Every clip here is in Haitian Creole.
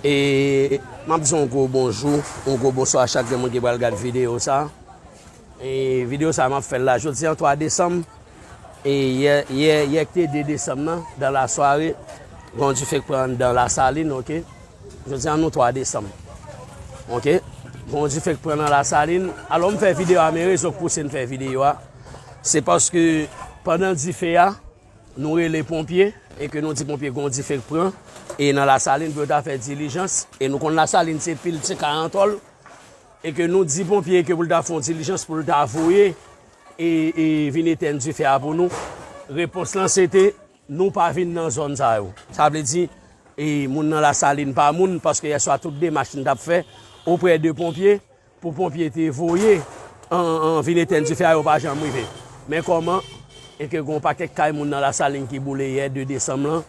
E m ap di yon gwo bonjou, yon gwo bonswa a chak gen moun ki pral gad videyo sa. E videyo sa m ap fè l la jodi an 3 desanm. E yè, yè, yè ki te 2 desanm nan, dan la sware, gen yon dife k pran anndan la salin, ok. Jodi an nou 3 desanm. Ok. Gen yon dife k pran nan la salin. Alò m fè videyo a men rezo k pouse m fè videyo a. Se paske pandan dife a, nou rele ponpye, e ke nou di ponpye gen yon dife k pran, e nan lasalin pou yo ta fè dilijans, e nou konn lasalin se pil ti kay an tòl, e ke nou di ponpye ke pou l ta fon dilijans pou l ta voye, e e vin etèn dife a pou nou, repons lan se te, nou pa vin nan zòn sa yo. Sa vle di, e moun nan lasalin pa moun, paske yèswa tout demach nou t ap fè, oprè de ponpye, Pou ponpye te voye an vin etenn dife a yo pa janm rive. Men kòman e ke gon pakèk kay moun nan Lasalin ki boule yè 2 desanm lan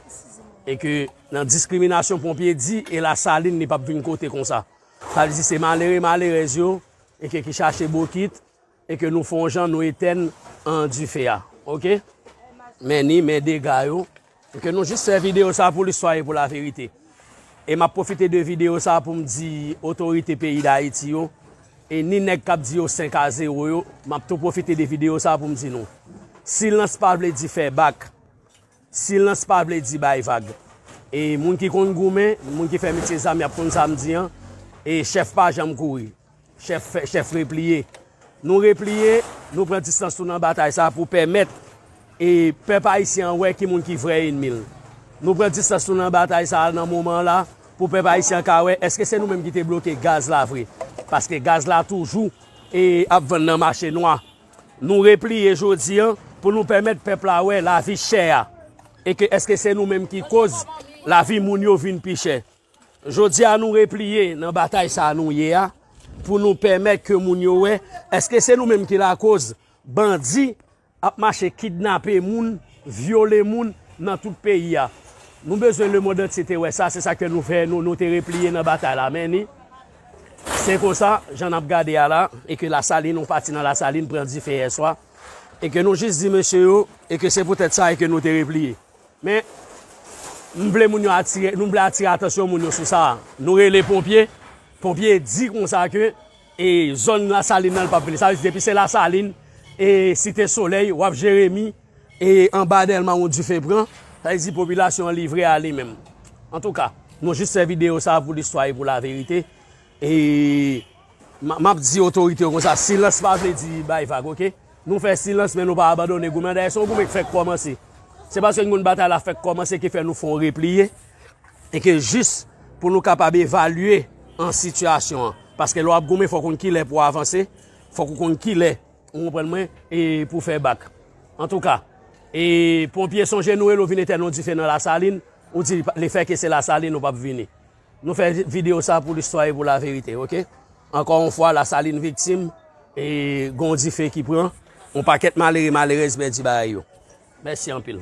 e ke nan diskriminasyon ponpye di e Lasalin li pap vin kote konsa. Sa vle di se malere malerèz yo e ke ki chache bokit E ke nou fon jan nou etèn an dife a ok men ni men dega yo e ke nou jis fè video sa pou listwa e pou la verite e map profite de video sa poum di otorite peyi dayiti yo e ni nèg kap di yo 5 a 0 yo map tou profite de video sa poum di nou silans pa vle di fè bak. Silans pa vle di bay vag. E moun ki konn goumen, moun ki fè metye zam y ap konn sa m di an. E chèf pa janm kouri. Chèf fè, chèf repliye. Nou repliye, nou pran distans nou nan batay sa a pou pèmèt e pèp ayisyen an wè ki moun ki vrè enmi l. Nou pran distans nou nan batay sa a nan moman an la pou pèp ayisyen an ka wè èske se nou menm ki te bloke gaz la vre. Paske gaz la toujou e ap vann nan mache nwa. Nou repliye jodi an pou nou pèmèt pèp la wè lavi chè a e ke èske se nou menm ki koz lavi moun yo vin pi chè. Jodi a nou repliye nan batay sa nou ye a pou nou pèmèt ke moun yo wè èske se nou menm ki lakoz bandi ap mache kidnape moun, vyole moun nan tout peyi a. Nou bezwen lemond antye te wè sa, se sa ke nou fè nou te repliye nan batay la. Many. Se konsa, jan nap gade a la, e ke Lasalin, yon pati nan Lasalin pran dife yè swa, e ke nou jis di mesye yo, e ke se poutèt sa e ke nou te repliye. Men, m vle moun yo atire, nou vle atire atansyon moun yo sou sa a. Nou rele ponpye, ponpye di konsa ke, e zòn Lasalin nan l pap vini. Sa vle di depi se Lasalin, e Site Solèy, wap Jeremi. E anba Dèlma yon dife pran, sa vle di popilasyon an livre a li menm. Antouka, nou jis fè videyo sa a pou listwa e pou laverite. E m ap di otorite yo konsa, silans pa vle di bay vag ok. Nou fè silans men nou pa abandone goumen an. Dayè se yon goumen ki fèk kòmanse. Se paske nou konn batay la fèk kòmanse ki fè nou fè yon repliye. E ke jis pou nou kapab evalye an sitiyasyon an. Paske lè w ap goumen fò w konn kilè pou w avanse, fò w konn kilè. Ou konprann mwen e pou fè bak. Antouka e ponpye sonje nou rele ou vin etèn yon dife nan lasalin ou di le fè ke se lasalin ou pap vini. Nou fè video sa pou listwa e pou la verite ok. Ankò yon fwa lasalin viktim e gon dife ki pran yon pakèt malere malerèz pèdi bagay yo. Mèsi anpil.